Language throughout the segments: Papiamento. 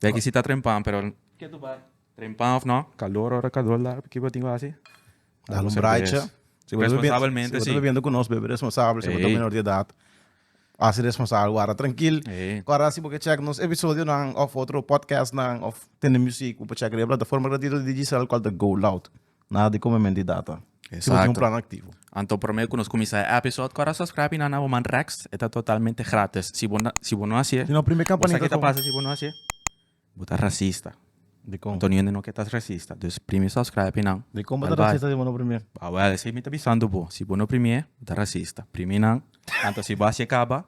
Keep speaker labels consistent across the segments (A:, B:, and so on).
A: Dai ki si ta trempan pero ke tu bai trempan of no calor ora calor la ki bo tin ku hasi Da un braicha. Si bo ta bebiendo, Responsabelmente, si bo ta sí. bebiendo ku nos, bebe responsabel. Si bo ta Ei. menor di edat, hasi responsabel. Wara trankil. Ei. Wara si bo ke chek nos episodionan òf otro podcastnan òf tende muzik, bo por chek riba e plataforma gratuito di Digicel, kual ta GoLoud. Nada di come menti data. Si bo tin un plan activo. Anto prome cu nos cuminsa e episode cora suscribi na na Woman Rex. E ta totalmente gratis. Si bo si bo no haci'e. Di no prime campanita con. Bo sa kitta pasa si bo no haci'e? Bo ta racista. Di con. Antonio hende no ke ta racista. Dus primi suscribi nan. Di con bo ta racista si bo no primi'e? Awel esei mi ta bisando bo. Si bo no primi'e bo ta racista. Primi nan. Anto si bo haci'e caba.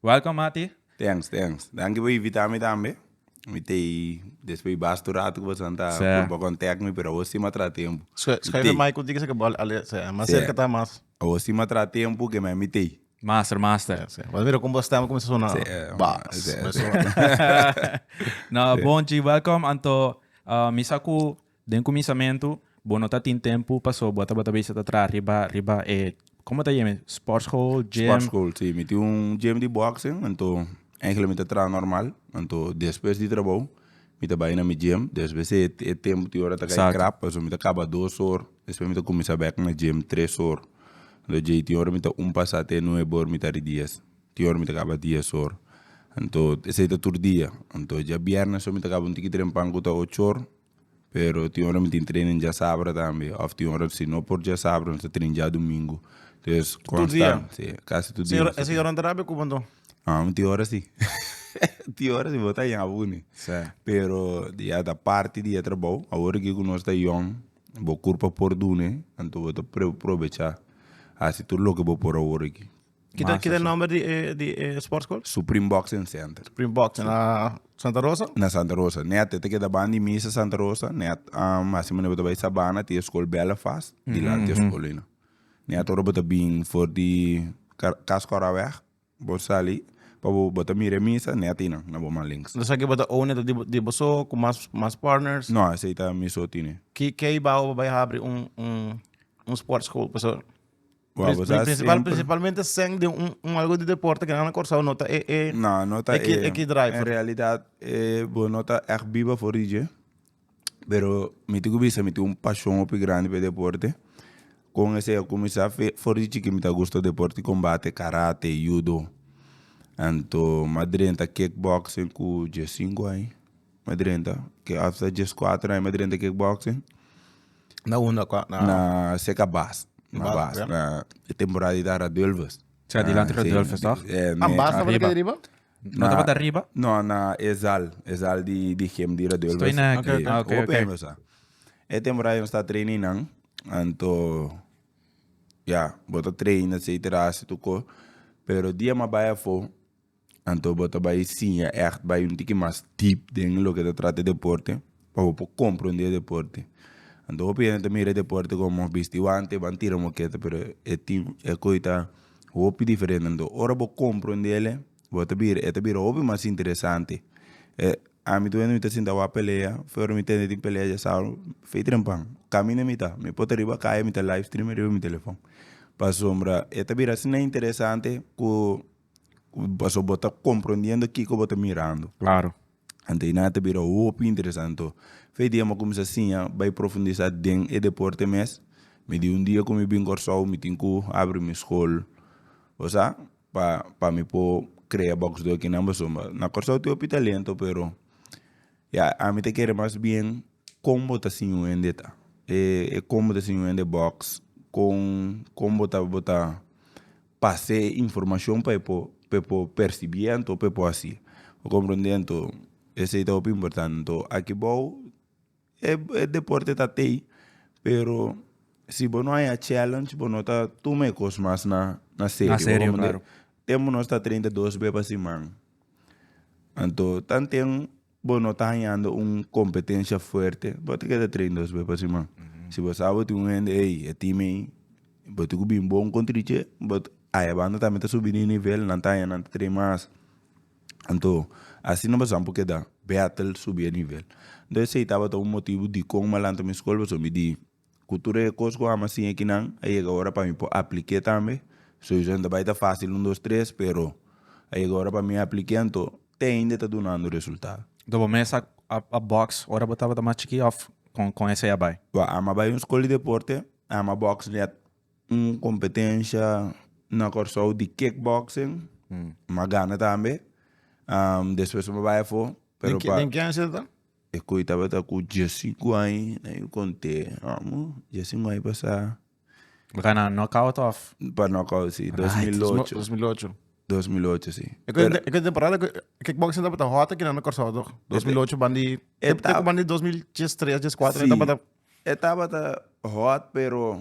A: Welcome Mati. Thanks thanks danki por invita mi tambe mi te despues bastu rato cu boso ta por bo contact mi pero awo stima a traha tempo. Schuiven mai cu dikse cu bo ale sea mas cerca ta mas. Awo stima a traha tempo ke me mi te. Master master. Bo mira como bo stem a cuminsa sona bass me sona. No bon chi welcome anto mi sa cu. Den kuminsamentu bo no ta tin tempu paso bo tabata bisa ta traha riba riba e komo ta yeme sportschool, gym? Sportschool, si. Mi tin un gym di boxing, anto eigelik mi ta traha normal. Anto despues di trabou mi ta bai na mi gym, despues e e tempu tin ora ta kai krap, paso mi ta kaba dos or, despues mi ta kuminsa bèk na gym tres or. Lo dje tin ora mi ta un pasa te nuebe or mi ta ri dies, tin ora mi ta kaba dies or. Anto esei ta tur dia, anto dja biernes so mi ta kaba un tiki trempan ku ta ocho or. Pero tin ora mi tin training diasabra tambe of tin ora si no por diasabra nos ta training dia domingo entonces constant si casi tur dia nos ta training. Señor Andrade cuban to? Ah, mi tin ora si. tin ora si bo ta yama buni. Sí. Pero ya ta parti di e trabou. Awor aki ku nos ta yòn, bo kurpa por dun'e, anto bo ta probecha hasi tur loke bo por awor aki. Kita kita e nomber di e di e sport school? Supreme Boxing Center. Supreme Boxing na Santa Rosa? Na Santa Rosa. Net te keda bandi misa Santa Rosa. Net um, así me bota bij Sabana, te school bellen vast. Mm -hmm. Die laat school in. Net ora bota bin voor die Kaskoraweg. Bo sali. Pabo bota mire misa, net in. Na bo man links. Dus aquí bota own net di, di boso, con más, más partners? No, así está miso tine. Ki, ki bao bij abri un, un, un sport school, professor? Wou, Prin- bosai prin- principal, siempre- principalmente seng de un, un algo de deporte que nan na Curaçao no ta e, e No, no ta Eki- eh, eki driver. En realidad, eh, bo no ta echt biba for rije. Pero mi tin ku bisa, mi tin un pasion hopi grandi pa e deporte. Kon esei a kuminsá fe- for di chikí mi ta gusto deporte di kombate, karate, yudo. Anto, m'adrenta kickboxing ku diesinku ai. me drenta ke after djes kuater aña me drenta kick boxing Na unda kua? Na- na seka bast na Bast, bast ja. na e temporada di ta radulfus Sea, di lante Radulfus, toch? Ah, bast tabata Arriba. kei riba? No tabata riba? no na e zal e zal di di gym di radulfus Estoy na- Oké, oké. Ah, oké, Hopi oké. hember sa e temporada nos ta train ei nan anto ya bo ta train etcetera hasi tu ko pero dia mi a bai afo Anto bo ta bai siña ègt bai un tiki mas deep den loke ta trata e deporte pa bo por komprondé e deporte. Anto hopi hende ta mira e deporte komo bisti wante ban tira moketa pero e tin e koe ta hopi diferente anto ora bo komprondele bo ta bira e ta bira hopi mas interesante e ami tu wen mi ta sinta wak pelea fe ora mi tende tin pelea dje sábado fe trempa caminda mi ta mi pota riba kaya mi ta live stream riba mi telefòn pasobra e ta bira asina interesante ku Pasobra bo ta comprendiendo kiko bo ta mirando anto nan ta bira hopi interesante to fe dia mi cuminsa siña bay profundisa den e deporte mes mi di un dia cu mi bin Corsou mi tin cu habri mi school bo sa pa pa mi por crea box do kinan baso ma na Corsou tin hopi talento pero ya ami ta kere mas bien con bo ta siña un hende ta e con bo ta siña un hende box con con bo ta bo ta Pas'é e informashon pa e por pa e por persibí anto pa e por hasi bo komprendé anto esei ta hopi importante anto aki bou e e deporte ta tei pero si bo no haña challenge bo no ta tuma e kos mas na na serio tempo nos ta train ta dos be pa siman anto tanten. Bo no ta hañando un kompetensia fuerte, bo ta keda train dos be pa siman. Si bo sa bo tin un hende, ey, e tim ei, bo tin ku bin bon kontra di dje, bo ta, aya banda tambe ta subi di nivel, nan ta haña nan ta train mas. Anto, asina bo san por keda bèt'l subi e nivel. Enton esei tabata un motibu dikon malantamen skol, pasobra mi di Ku tur e kos ku Ama siña kinan, a yega ora pa mi por aplik'é tambe. Soysa no ta bai ta fásil un, dos, tres, pero a yega ora pa mi aplik'é, anto te ainde ta dunando resultado. Anto bo mester a bòks ora bo tabata mas chikí òf kon esei a bai? Kua Ama bai un skol di deporte, Ama bòks nèt un kompetensha na Kòrsou di kickboxing, Ama gana tambe. Despues Ama bai afó, pero pa. Den ken esei ta? E koe tabata ku Jessy Guai na yu konte. Amo, Jessy Guai pasa. Bo ta na knockout of? Pa knockout, si. Dos mil ocho. Dos mil ocho. Dos mil ocho, si. E koe e koe temporada ku kickboxing tabata hot aki nan na Kòrsou toch? Dos mil ocho bandi te te ku bandi dos mil djes tres, djes kuater e tabata. E tabata hot pero.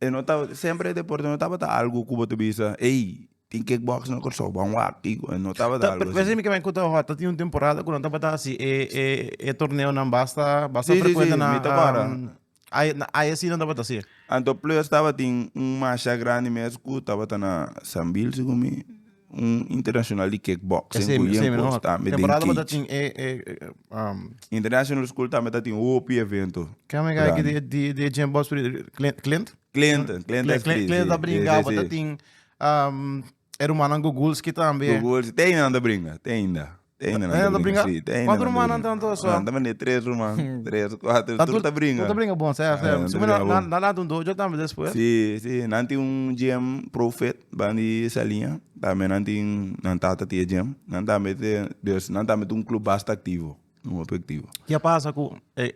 A: E no ta semper e deporte no tabata algo ku bo ta bisa ey tin kick box na Kòrsou ban wak i go no tabata algo asi. Meken mi kuto a tin un temporada ku nan tabata hasi e e e torneonan basta basta frecuente na ai asi nan tabata hasi. Anto plus tabatin un masha grandi mes ku tabata na San Bilsi ku mi Un internacional di kickbox en Guayen cu ta ambe den cage. International school ta ambe ta tin hopi evento. Ken mi ga aki di e Jim Boss Clint? Clint. Clint ta bringa bo ta tin e rumannan Gugulski ta ambe. Gugulski ta ainda ta bringa ta ainda. Teine nan ta bringa si. Teine nan ta bringa. Kuantu rumannan ta nan tor so? Tambe ne tres ruman. Tres, kuater. Tur ta bringa. Tur ta bringa bon. Ser, ser. Su mina nan a lanta un dojo tambe despues? Si, si. Nan tin un gym, Profet, ban di Saliña. Tambe nan tin, nan tata tin e gym. Nan tambe ten, nan tambe tin un club basta activo. Hopi activo. Ke a pasa ku e.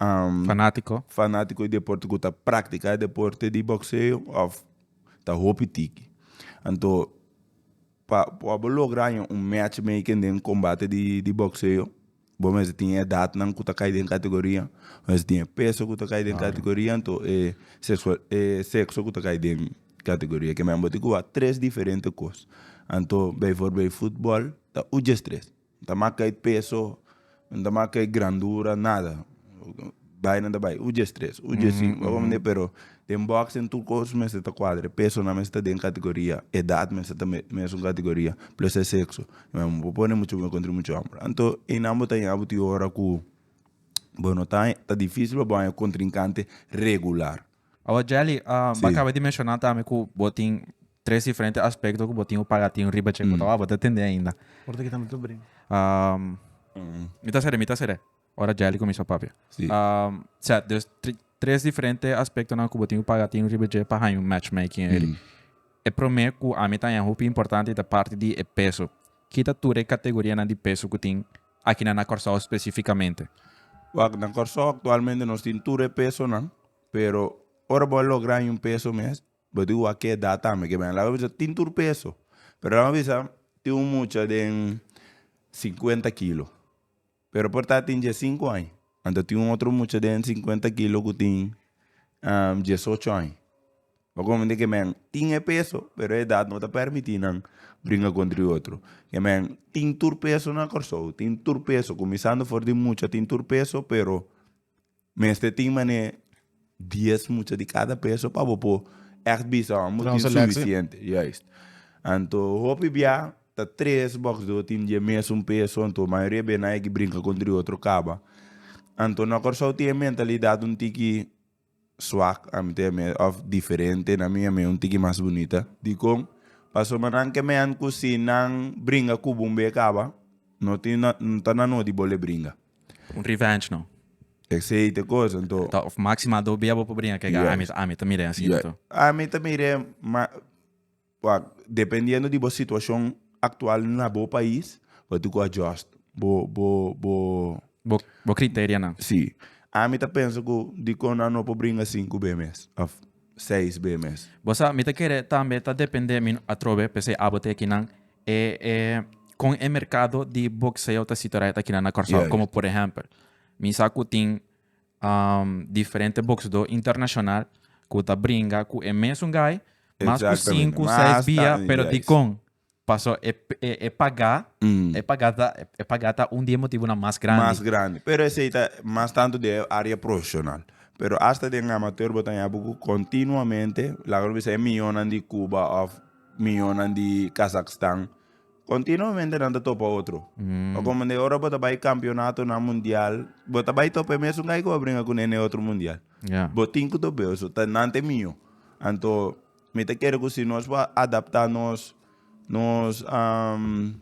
A: um, Fanátiko. fanátiko di deporte ku ta praktiká deporte di bokseo òf ta hopi tiki. Anto pa pa bo logra haña un matchmaking den kombate di di bokseo bo mester tin e edatnan ku ta kai den kategoria, bo mester tin e peso ku ta kai den kategoria anto e sexua e sekso ku ta kai den kategoria. Ke men bo tin ku a tres diferente kos. Anto, beiforbei futbòl ta uj des tres. N ta maka e peso, N ta maka e grandura, nada. Bai nan ta bai un dje tres, un dje sinku, abo manera. Pero den bòks den tur kos mester ta kuadra. E pesonan mester ta den kategoria, e edat mester ta mesun kategoria, plus e sekso. Bo por pone mucho muher kontra mucho hòmber. Anto einan bo ta yega bo tin ora ku bo no ta, ta difísil pa bo haña kontrinkante regular. Awa Jelly, um, bo acaba di menciona tambe cu bo tin tres diferente aspecto cu bo tin un pagatin riba che, mm. bo ta tende ainda. Orta que tambe tu bring. Um, mm. Mi ta sere, mi ta sere. Ora Jelly comienza papia. Sí. Um, sea, dus tres diferente aspecto na cu bo tin un pagatin riba che pa haña un matchmaking. Mm. E prome cu a mi ta importante ta parte di e peso. Kita ture categoria na di peso cu tin Akinan na Kòrsou spesifikamente? Wak, na Kòrsou aktualmente nos tin tur e pesonan, pero ora bo a logra haña un peso mes, bo tin ku wak ki edat tambe. Ke mira, laga bisa tin tur peso, pero laga bisa tin un mucha den sinkuenta kilo, pero por ta tin diesinku aña. Anto tin un otro mucha den sinkuenta kilo ku tin diesocho aña. Bo komo mende ke men tin e peso pero e edat no ta permiti nan bringa kontra e otro ke men tin tur peso na Kòrsou tin tur peso kuminsando for di mucha tin tur peso pero mester tin manera dies mucha di kada peso pa bo por ègt bisa ora bo tin sufisiente juist anto hopi bia ta tres bòks do tin dje mesun peso anto mayoria bia nan e bringa kontra e otro kaba anto na Kòrsou tin e mentalidad un tiki. Swak a mi te miedo of diferente na mi a mi un tiki mas bunita. Dikon? Paso manan ke mean ku si nan bringa ku bo un bey a kaba no tin no ta na nodi bo le bringa. Un revenge no. Esey te kosa anto. Ta of maxima do bey a bo por bringa ke ga ami ami ta mire asina to. Ami ta mire ma. Wak, dependiendo di bo situacion actual na bo pais, bo tin cu adjust bo bo bo. Bo criterianan. Si. Ami ta pensa cu dicon nan no por bringa cinco be mes of seis be mes. Bo sa, mi ta kere tambe ta depende mi atrobe, p'esei abo te akinan e e con e mercado di boxeo ta sitoreit akinan na Curaçao, como por ehempel, mi sa cu tin um, diferente boksdó internashonal ku ta bringa ku e mesun gai mas ku sinku, seis bia, pero dikon? Paso e, e, e pagá, mm. e pagá ta, e pagá ta un di e motibunan mas grandi. Mas grandi. Pero esei ta mas tanto di e área profesional. Pero hasta den amateur bo ta yabu ku kontinuamente, laga no bisa e miyonan di Cuba of miyonan di Kazakhstan, Continuamente nan ta topa otro. O como de ora bo ta bai campeonato na mundial, bo ta bai tope mesun kai ko bringa ku nene otro mundial. Ja. Bo tin ku to beo so ta nan te mio. Anto mi ta kere ku si nos por a adapta nos nos am,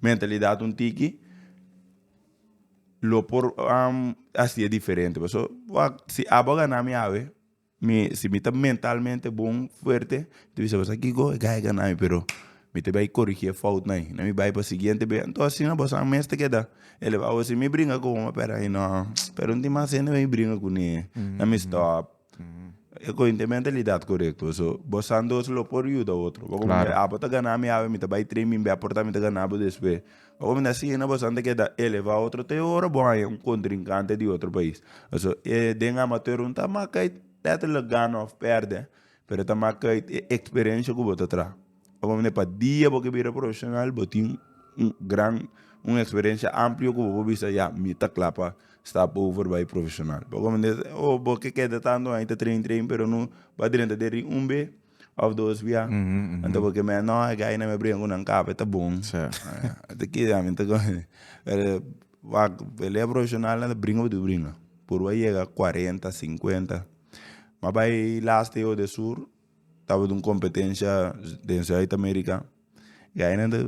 A: mentalidad un tiki lo por am hasi'e diferente. Pasobra si abo a gana mi awe Mi si mi ta mentalmente bon fuerte ta bisa bosa kico e gaya ganami pero mi ta bay corigi e fout na ayi na mi bay pa siguiente bey anto asina boso a mester keda el a wos mi bringa cu bo pero ayi no pero no tin mas hende wen mi bringa cu ni na mi stop e coyo no ta e mentalidad corecto so boso andos lo por yuda otro abo ta ganami awe mi ta bay train bimbe a porta mi ta ganabo despues. Awor mi ta siña boso anto ke ta elevá otro te ora bo haña un kontrinkante di otro pais. Pasobra e den amateur un ta mak uit lètterlek gana òf pèrdè, pero ta mak uit e eksperensia ku bo ta traha. Awor mi pa dia bo ke bira profeshonal bo tin un gran un eksperensia amplio ku bo por bisa ya mi ta kla pa stap over bai profeshonal. Bo kende o bo ke keda tantu aña ta train train pero no ba drenta deri un be Of dos bia. Anto bo ke mea no e gai na me bringa ku nan kaba e ta bon. Te kida ami ta kore. Pero wak pele profeshonal nan ta bringa bo ta bringa. Por bo a yega kuarenta, sinkuenta. A bai last year de sur tabatin un kompetensha den zuid amerika. Gai nan ta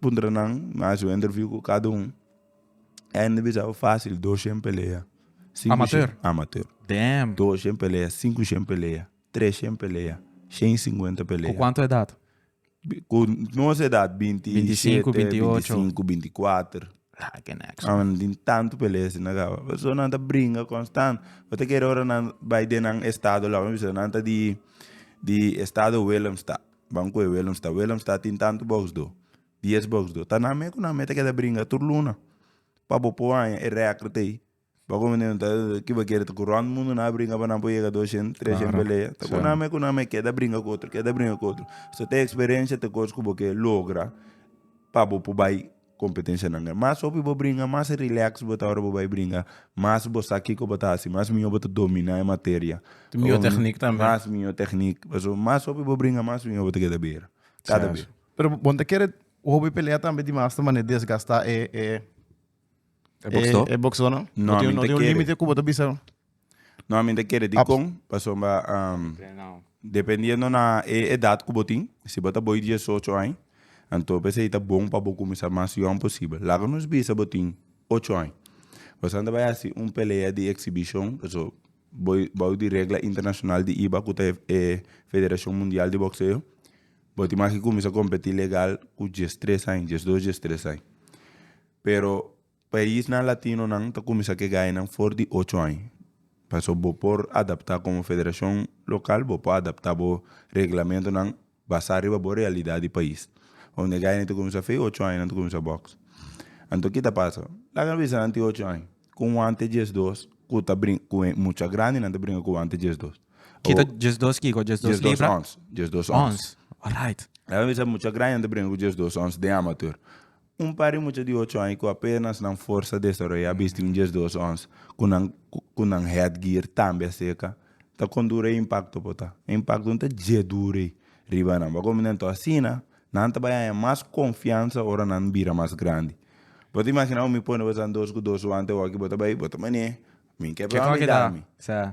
A: puntra nan, nan haci un interview ku kada un. Gai nan ta bisa bo fasil doshen pelea. Amateur? Amateur. Doshen pelea, sinkushen pelea. Treshen pelea. Shen singuenta pelea. Ku kuantu edat? Ku nos edat, binti i shete, binti i sinku, binti i kuater. Nan tin tantu pelea si na kaba. Pasobra nan ta bringa konstant. Bo ta kere ora nan bai den nan estado lou, nan bisa nan ta di di estado willemstad, ban koe willemstad. Willemstad tin tantu boksdo, dies boksdo. Ta nan me ku nan me ta keda bringa tur luna pa bo por aña e rèkr t'ei Bo komo nenan ta kiba kere ta ku rònt mundu nan a bringa pa nan por yega doshent treshent pelea ta ku nan me ku nan me keda bringa ku otro keda bringa ku otro so te eksperensha te kos ku bo ke logra pa bo por bai kompetenshnan grandi mas hopi bo bringa mas relèks bo ta ora bo bai bringa mas bo sa kiko bo ta hasi mas mihó bo ta dominá e materia mas mihó teknik pasobra mas hopi bo bringa mas mihó bo ta keda bira kada bira. Pero bo ta kere hopi pelea tambe di mas ta manera desgastá e. E box door? E box door no? No, tin, no tin un límite ku bo ta bisa. No, a mi ta kere dikon, paso mba um, dependiendo na e edad ku bo tin, si bo ta boi diesocho aña, anto p'esei ta bon pa bo kuminsá mas yòn posibel. Laga nos bisa bo tin ocho aña, bo sa anto bai hasi un pelea di eksibishon, paso bo bou di regla internashonal di iba ku ta e Federashon Mundial di Bokseo, bo tin mas ki kuminsá kompetí legal ku diestres aña, diesdos, diestres aña. Pero paisnan latinonan ta kuminsá ku e gainan for di ocho aña. Pasobra bo por adaptá komo federashon lokal, bo por adaptá bo reglamentunan basá riba bo realidat di pais. Unda e gainan ta kuminsá fei, ocho aña nan ta kuminsá bòks. Anto ki ta pasa? Laga no bisa nan tin ocho aña ku wante djesdos ku ta brinka ku e mucha grandinan ta brinka ku wante djesdos. Ki ta djesdos kiko? Djesdos libra? Djesdos ons. Djesdos ons. Ons. Orait. Laga no bisa mucha grandinan ta brinka ku djesdos ons den amateur. Un par di mucha di ocho aña cu apenas nan forsa desaroya a bisti un djes dos ons cu nan cu nan headgear tambe a seca. Ta con duro e impacto por ta. E impacto no ta dje duro ey riba nan. Bo a comina enton asina nan ta bay haña mas confiansa ora nan bira mas grandi. Bo ta imagina awo mi pone bo san dos cu dos wante awo aki bo ta bay bo ta mane mi ke pran mi da mi.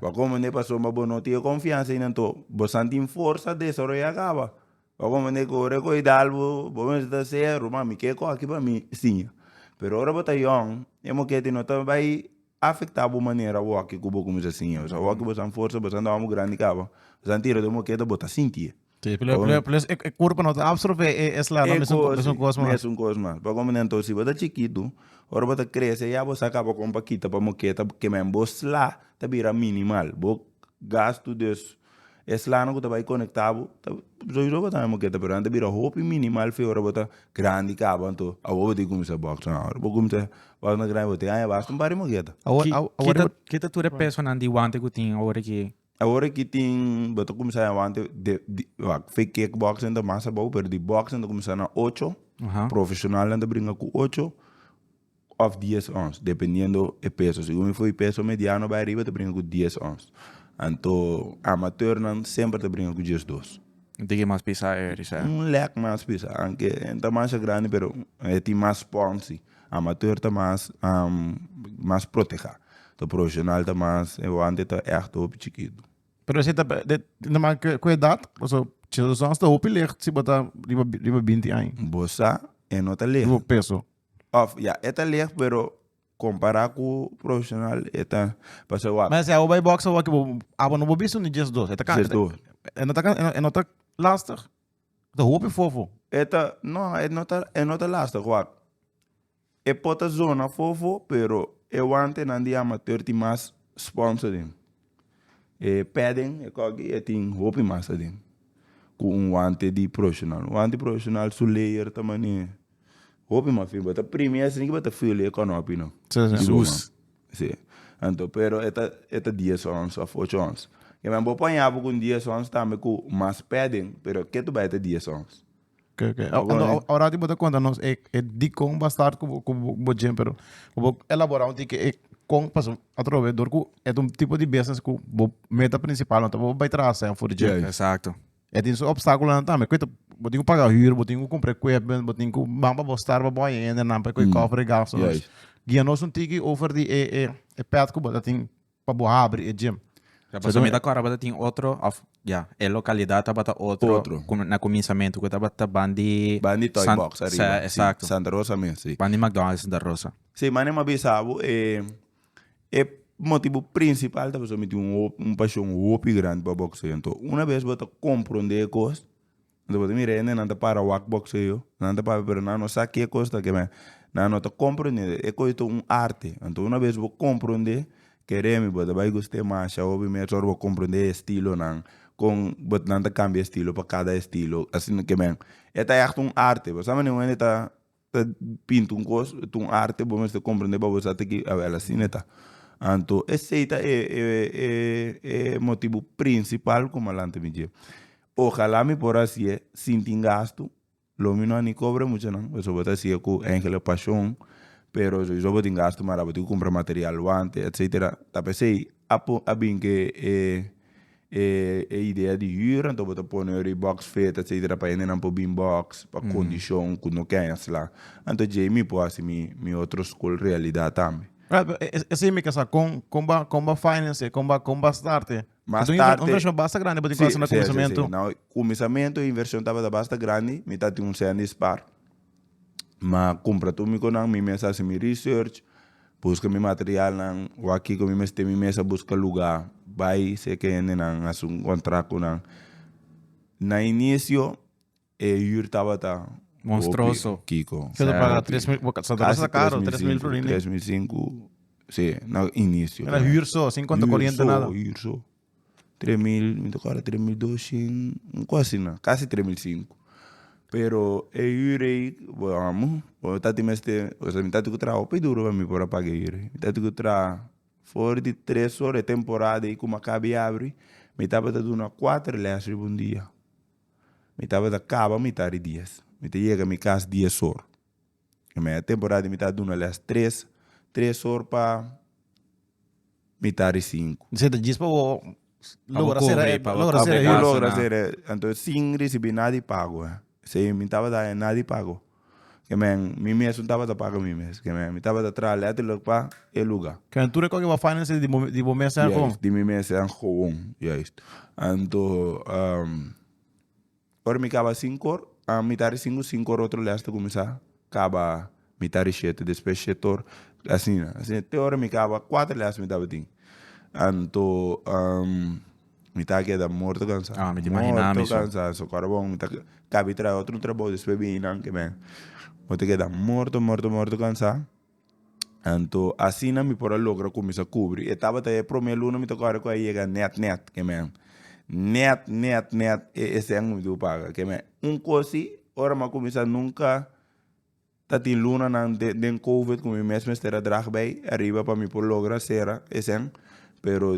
A: Bo a comende pasobra bo no tin e confiansa ey nan to bo san tin forsa desaroya caba. Ora bo mende ku ora ku e dal bo bo mester ta se ruma mi ke kok aki pa mi siña pero ora bo ta yòn e moketi no ta bai afektá bo manera awor aki ku bo kuminsá siña pasobra awor aki bo san forsa bo san dòrmi grandi kaba bo san tira den mokeda bo ta sinti e e kurpa no ta apsorbé e e sla nan mesun kos mas mesun kos mas ora bo ta anto si bo ta chikitu ora bo ta krese ya bo sa kaba kon pa kita pa mokeda kem'en bo sla ta bira minimal bo gastu des Eslana ku ta bai konektá bo ta soi roba tambe moketa pero nan ta bira hopi minimal fe ora bo ta grandi kaba anto awor bo tin kuminsá bòks nan awor bo kuminsá bòks nan grandi bo te aña basta un par di moketa. Ki ta tur e pesonan di wante ku tin awor aki? Awor aki tin bo ta kuminsá aña wante fe kik bòksnan ta mas abou pero di bòksnan ta kuminsá na ocho profeshonalnan ta bringa ku ocho. Of dies ons, dependiendo e peso. Segun mi fo'i peso mediano bai ariba ta bringa ku dies ons. Anto amateurnan semper ta bringa ku diesdos. Un tiki mas pisa e risea? Un lek mas pisa, aunke e ta masha grandi pero e tin mas sponsi. Amateur ta mas mas proteha. Anto profesional ta mas e wante ta eht hopi chikitu. Pero esei ta manga ke ku edat? Paso diesdos ons ta hopi lek si bo ta riba riba binti aña. Bo sa e no ta lek. Riba bo peso. Of ya e ta leg pero compara cu profesional e ta pasai wak. Mens abo bay box awaki bo abo no bo bisto ni just dos. E ta Just dos. E no ta can- e no ta lastig. E ta hopi fofo. E ta no e no ta e no ta lastig wak. E por ta zona fofo pero e wantenan di amateur tin mas sponsor den. E peden e koki e tin hopi mas aden ku un wante di proshonal un wante proshonal su leyer ta mane hopi mas fin bata primi esei niki bata feel e konopi no si anto pero e ta e ta dies ons of ocho ons kieme bo po yapo ku un dies ons tambe ku mas peden pero ketu bai ta dies ons Oke oke ora bo ta konta nos e dikon bo a start ku bo ku bo djen pero ku bo elaborá un tiki e kon pasobra atrobe dor ku e ta un tipo di business ku bo meta prinsipal no ta bo bai traha sèn for djen Exacto. E tin su opstákulonan tambe ku e ta bo tin ku paga hür bo tin ku kumpra equipment bo tin ku ban pa bo start pa bo ahiendenan pa e koy kòfer e gastunan guia nos un tiki over di e e pèt ku bo ta tin. pa bo habri e gym. Ya, pasobra mi ta kòrda tabata tin otro òf ya, e lokalidat tabata otro. Otro. Ku na kuminsamentu ku tabata ban di. Ban di Toy Box ariba. Sí, eksakto. Si, Santa Rosa mes, sí. Ban di McDonald's Santa Rosa. Sí, mane mi a bisa bo e, e motibu prinsipal ta pasobra mi tin un hopi, un pashon hopi grandi pa bokseo. Anto, una bes bo ta komprondé e kos, Lo bo ta mira hende nan ta para wak boxeo nan ta para pero nan no sa ke kos ta keme nan no ta comprende e kos ta un arte anto una bes bo comprende ke remi bo ta bai guste masha hopi mes ora bo comprende e estilonan kon bo nan ta cambia estilo pa cada estilo asin keme e ta yahta un arte bo sa manera un hende ta. ta pinta un cos ta un arte bo mester comprende pa bo sa te ki awel asina ta anto esey ta e e motibo principal cu malanti mi dje ojala mi por a haci'e sin tin gasto lo mi no a ni cobra muchanan pasobra bo ta haci'e cu angel e pasion pero sowieso bo tin gasto mara bo tin compra material wante etcetera ta pesey a por a bin ke e. E idea di hür, anto bo ta pone ora e box fet, etcetera, pa hendenan por bin box, pa kondishon ku no ke ensla. Anto dje mi por hasi mi mi otro skol realidat tambe. Esei mi ke sa, kon kon bo a kon bo a finance e, kon bo a kon bo a start e? Mas tarte. Esei un invershon basta grandi bo tin ku hasi na kuminsamentu. Kuminsamentu e invershon tabata basta grandi, mi ta tin un sende e spar. ma cumpra tur mi conan mi mes a haci mi research busca mi materialnan wak kico mi mester mi mes a busca lugar bay seke hendenan haci un contract cu nan na inicio e hür tabata hopi kico tres mil y pico si na inicio hür so hür so. Tres mil mi ta kòrda tres mil doshin algu asina kasi tres mil sinku pero e hür ei bo amo ora mi tati mester ora mi tati ku traha hopi duru pa mi por a paga e hür ei mi tati ku traha for di tres ora e temporada ei kuma kaba i abri mi tabata duna kuater lès riba un dia mi tabata kaba mitar di dies mi ta yega mi kas dies ora Mei e temporada mi ta duna lès tres tres or pa mitad di sinku. Di seta djis pa bo Pa bo logra cobra sera e- i pa bo logra cobra sera e e Ku casa, huis. logra na. sera anto sin risibi nada di pago eh se mi tabata haña nada di pago ke men mi mesun tabata paga mi mes ke men mi tabata traha letterlijk pa e luga. Kende tur a koke bo finances di bo di bo mes en kon. Juist di mi mes en kon juist anto Ora mi kaba sinku or, a mitar di sinku, sinku or otro leas ta kuminsá kaba mitar di shete, despues shete or, asina, asina te ora mi kaba kuater leas mi tabatin. Anto mi ta keda morto kansá, morto kansá, so kòrda bon mi ta kabi traha otro trabou despues biainan ke mi a bo ta keda morto, morto, morto kansá. Anto asina mi por a logra ku mi sa kubri. E tabata e promé luna mi ta kòrda ku a yega nèt nèt ke mèn. Nèt nèt nèt e esèn mi dibu paga ke mèn. Un kosi ora mi a kuminsá nunka ta tin lunanan den den covid ku mi mes mester a drag bei ariba pa mi por logra sera esèn pero.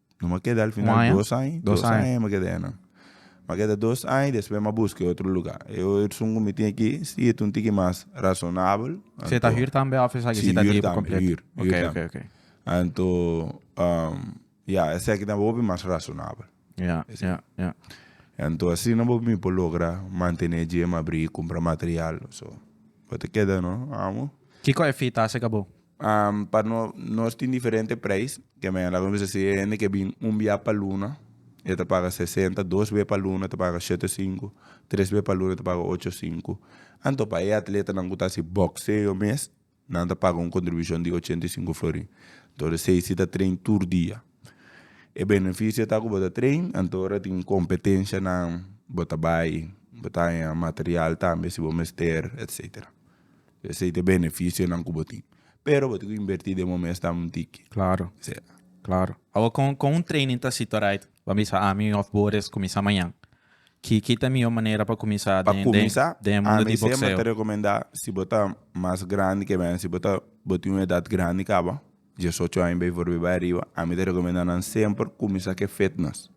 A: No m'a keda al final dos aña. Dos aña m'a keda eynan. M'a keda dos aña despues m'a buska e otro luga. E orsun ku mi tin aki si e ta un tiki mas razonabel. Si e ta hür tambe òf esaki si ta di pa kompleto? Si, hür tambe. Hür tambe. Ok, ok, ok. Anto, ya, esaki tambe hopi mas razonabel. Ya, ya, ya. Anto asina bo mi por logra mantené dje, m'abrí, kumpra material. So, bo ta keda no, amo. Kiko e fita a sega bo? Um pa no nos tin diferente prijs ke men laga mester si e hende ke bin un biaha pa luna e ta paga sesenta dos be pa luna e ta paga shete sinku tres be pa luna e ta paga ocho sinku anto pa e atletanan ku ta hasi bokseo mes nan ta paga un kontribushon di ochenta i sinku florin anto ora esei si ta trein tur dia e benefisio ta ku bo ta trein anto ora tin kompetenshanan bo ta bai bo ta haña material tambe si bo mester etsetera. Esey ta beneficionan cu bo tin. Pero bo tin cu inverti den bo mesnan un tiki. Claro. Claro. Awa con con un training ta asito right? Bo a bisa ami of bo res cuminsa mañan. Ki ki ta mihor manera pa cuminsa den den den cuminsa den mundo di boxeo? Ami siempre ta recomenda si bo ta mas grandi que mi, si bo ta bo tin un edad grandi caba, diesocho aña bay for bay bay ariba, ami ta recomenda nan semper cuminsa cu e fitness.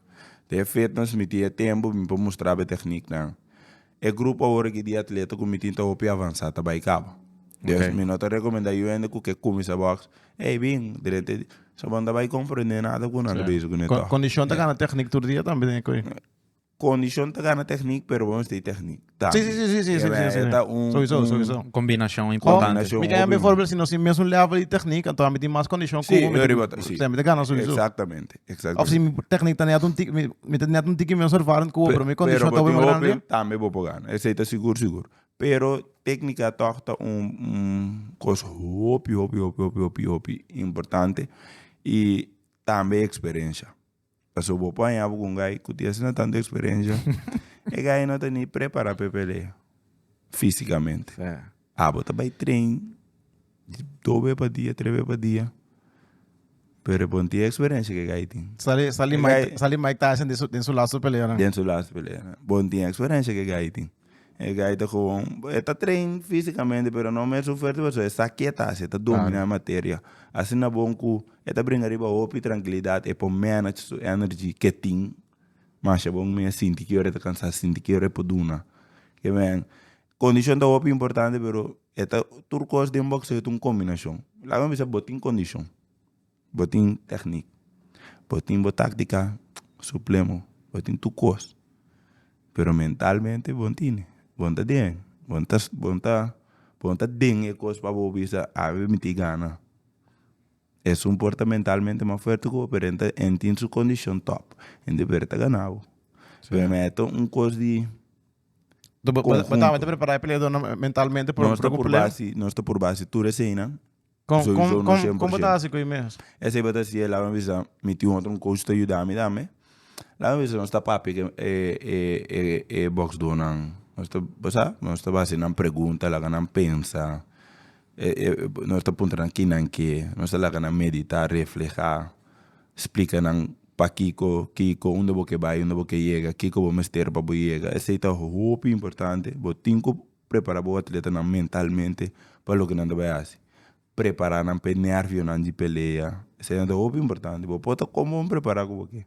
A: Den e fitness mi tin e tempo mi por mustrabo e technieknan. E grupo awor aki di atleta ku mi tin ta hopi avansá ta bai kaba. Despues mi no ta rekomendá yu hende ku ke kuminsá bòks, ey bin, drenta e soba no ta bai komprendé nada ku nan ta besi ku neto. Kondishon ta gana tèknik tur dia tambe den e koe. Kondishon ta gana tèknik pero bo mester tin tèknik tambe. Sí, sí, sí, sí, ta un Sowisou, sowisou. Un kombinashon importante. Kombinashon hopi. Mi ta yama e voorbeeld, si nos tin mesun lèvel di tèknik, anto ami tin mas kondishon ku bo mi ta gana, sowisou. Sí, mi ta gana sowisou. Exactamente. Exacto. Of si mi techniek ta net un tiki, mi, mi ta net un tiki menos ervaring cu pero mi condition ta win grande. Tambe bo por gana. Ese ta sigur, sigur. Pero técnica toch ta un, un cos hopi, hopi, hopi, hopi, hopi, hopi importante. Y tambe experiencia. Pasobra bo por haña bo cu un guy cu tin asina tanto experiencia, e guy no ta ni prepara pa e pelea, físicamente. Abo ta bay train. Dos be pa dia, tres be pa dia. Pero e ponti e experiencia ke gai tin. Sali sali Mike sali Mike Tyson den su den su laatste peleanan. Den su laatste peleanan. Bon tin e experiencia ke gai tin. E gai ta gewoon e ta train fisicamente pero no mer su fuerte pasobra e sa ke ta hasi e ta domina e materia. Asina bon ku e ta bringa riba hopi trankilidad e por manage su energy ke tin masha bon mia sinti ke ora e ta kansa sinti ke ora e por duna. Kondishon ta hopi importante pero e ta tur kos den bokseo ta un kombinashon laga mi bisa bo tin kondishon bo tin teknik bo tin bo taktika suplemo bo tin tur kos pero mentalmente bo tini bo ta den bo ta bo ta bo ta den e kos pa bo bisa awe mi tin gana esun por ta mentalmente mas fuerte ku bo pero enta en tin su kondishon top enta puede ta gana bo pero na e ta un kos di Do ba- ba- Conjunto. Batama ta prepará e peleador nan mentalmente por, Nos por ta ku por pelea? base, nos ta por base tur eseinan. Kon Sowieso kon no kon kon 100%. bota hasi ku e mes? Esei bo ta siye laga mi bisa mi tin otro un coach ta yuda mi tambe. Laga mi bisa nos ta papia ke e e e e boxdoornan nos ta bo sa nos ta base nan pregunta laga nan pensa. Nos ta puntra nan kinan ke, nos ta laga nan meditá, reflehá, splika nan pakiko, kiko, unda bo ke bai, unda bo ke yega, kiko bo mester pa bo yega. Esei ta hopi importante. Bo tin ku prepará bo atletanan mentalmente pa loke nan ta bai hasi. Prepará nan pa e nervionan di pelea. Eseinan ta hopi importante. Bo por ta kon bo prepará ku bo ke.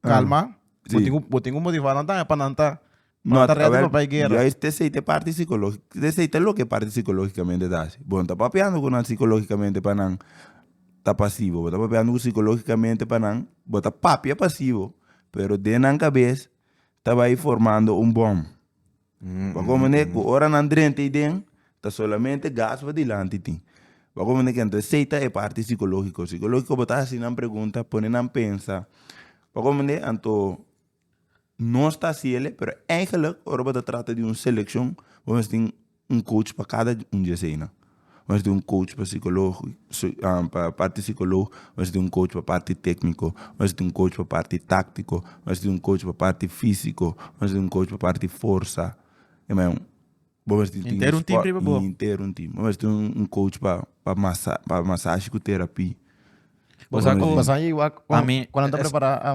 A: Kalma. Bo tin ku bo tin ku motivá nan tambe pa nan ta pa nan ta rèdi pa bai guera. Juist esei ta e parti sikológiko. Esei ta loke e parti sikológikamente ta hasi. Bo no ta papiando ku nan sikológikamente pa nan ta pasivo. Bo ta papiando ku sikológikamente pa nan bo ta papia pasivo pero den nan kabes ta bai formando un bòm. Bo a komo manera ku ora nan drenta ei den ta solamente gas pa dilanti tin. Bo a komo manera ku entre esei ta e parti sikologiko. Sikologiko bo ta hasi nan pregunta, pone nan pensa. Bo a komo manera anto nos ta hasi ele pero eigenlik ora bo ta trata di un selekshon bo mester tin un coach pa kada un di eseinan. Mester tin un coach pa psicologo pa parti psicologo mester tin un coach pa parti tecnico mester tin un coach pa parti tactico mester tin un coach pa parti fisico mester tin un coach pa parti forsa bo mester tin entero un team riba bo entero un team bo mester tin un coach pa pa masa pa masashi cu terapi bo sa cu cuando ta prepara.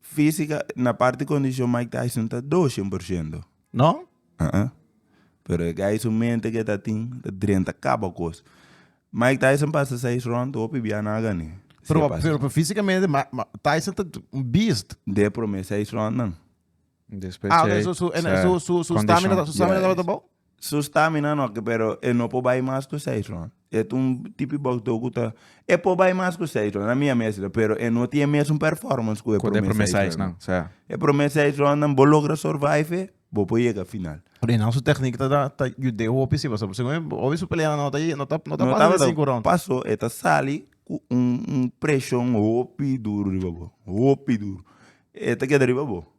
A: Físika, na parti kondishon Mike Tyson ta doshen por shento. No? Aa. Pero e guy su mente ke ta tin ta drenta kaba kos. Mike Tyson pasa seis round, hopi bia nan a gané. Si Pero, e pasa. pero, pero físikamente, Ma- Ma- Tyson ta un beast. De prome seis round nan. Después Ah, ok, sei, su, en- sei, su, su, su condition. stamina, ta- su stamina Yeah, tabata yes. bou? Su stamina no oke pero e no por bai mas ku seis rond e ta un tipi boxdor ku ta e por bai mas ku seis rond na mira mester lo pero e no tin e mesun performance ku e prome seis rond e prome seis rondnan bo logra survive e bo por yega final Reynald su techniek ta ta ta yude hopi si pasobra segun mi hopi su pelea no ta no ta no ta pasa di sinku rond paso e ta sali ku un un preshon hopi duru riba bo hopi duru e ta keda riba bo.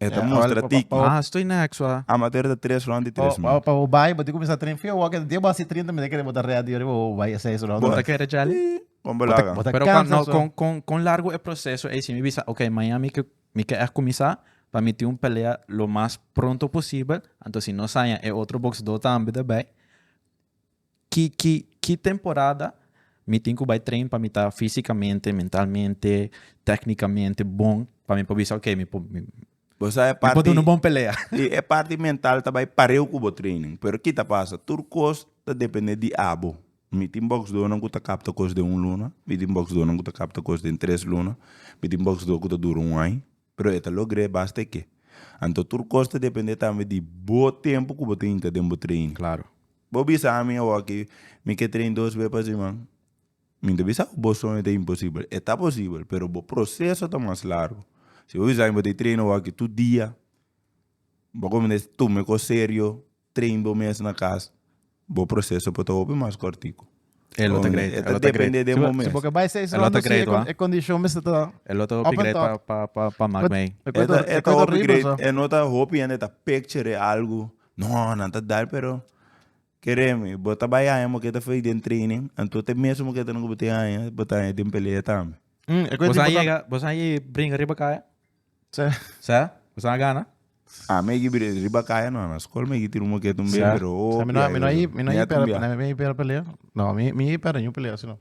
A: E ta mustra tiki. Ah, estoy na hek su a. Amateur ta tres rond di tres min. Pa bo bai, bo tin cuminsa train feo wak e dies bo haci trinta minuto kere bo ta ready riba bo bai e seis rond. Bo ta kere djali? Ii, con bo laga. Bo ta Pero cansa cuando, su. con, con, con largo e proceso ey si mi bisa, ok, maña mi ke, mi ke echt cuminsa pa mi tin un pelea lo mas pronto posibel, anto si no saña e otro boxdor tambe ta bay. Ki ki ki temporada mi tin ku bai train pa mi ta físikamente, mentalmente, téknikamente bon pa mi por bisa ok mi por mi Bo sa e mi por parti duna un bon pelea. si e parti mental ta bai pareu ku bo training pero ki ta pasa tur kos ta depende di abo mi tin boksdornan ku ta kapta kos den un luna mi tin boksdornan ku ta kapta kos den tres luna mi tin boksdor ku ta dura un aña. Pero e ta logr'é basta ke. Anto tur kos ta dependé tambe di bo tempu ku bo ta hinka den bo trein. Bo bisa ami awo aki mi ke trein dos be pa siman, mi ta bisa ku bo soño ta imposibel, e ta posibel pero bo proseso ta mas largu. Si bo bisa ami bo ta trein awo aki tur dia, bo ta kominsá tum'é kos serio. Train bo mes na cas bo proceso por ta hopi mas cortico. E lo ta great. E lo ta great. Si bo si bo ke bai seis ronda si e condition mester ta up and top. E lo ta hopi great pa pa pa pa maak mei. E ta hopi great e no ta hopi hende ta picture algo no nan ta dar pero kere mi bo ta bai haña bo ke ta fai den training anto te mes bo ke ta haña bo ta haña den pelea tambe. Bo sa yega bo sa ye bringa riba kaya? Sa? Kusnan a gana? Ah, mi a gibi den riba kaya no, na skol mi a gitiri un moket un bes, Sa? pero Sa, mi no, mi no a hip, mi no a hip era, mi no a hip era pelea. No, mi, mi hip era ñu pelea asina.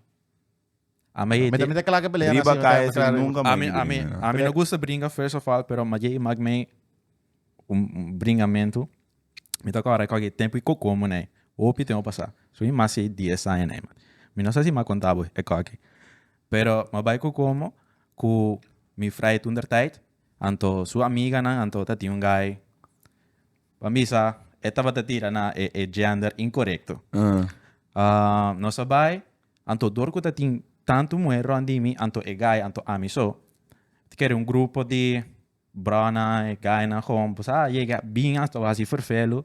A: A mi Mi ta, mi ta kla ke pelea Riba asina, mi ta, kaya mi ta si kla riba. nunka mi a Ami, hip ami, den. ami no gusta bringa first of all, pero maye i mak mi un bringamentu mi ta kòrda kòke tempu i koko moné ei hopi tempu a pasá so i mas ei dies aña nei mati mi no sa si mi a konta bo e kòke pero mi a bai kokomo ku mi frai toentertyd anto su amiganan anto ta tin un gai pa bisa e tabata tira na e e gender inkorekto nos a bai anto dor ku ta tin tantu muhé rònt di mi anto e gai anto ami so ta kere un grupo di Broanan e gainan gewoon por sa yega bin asta wak si ferfelu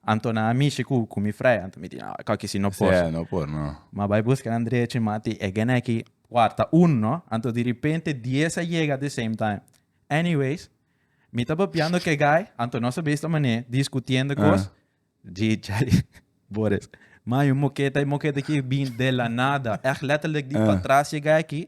A: anto nan a mishi ku ku mi frei anto mi di no aka kisi no por Sea, no por, no. ma bai buska nan drechi mati e gene aki warta un no anto di ripente dies a yega the same time anyways mi ta papiando ke gai anto nos a bay esta mane diskutiendo kos dji djai Boris man yu moketa e moketa aki bin de la nada echt letterlijk di patras yega aki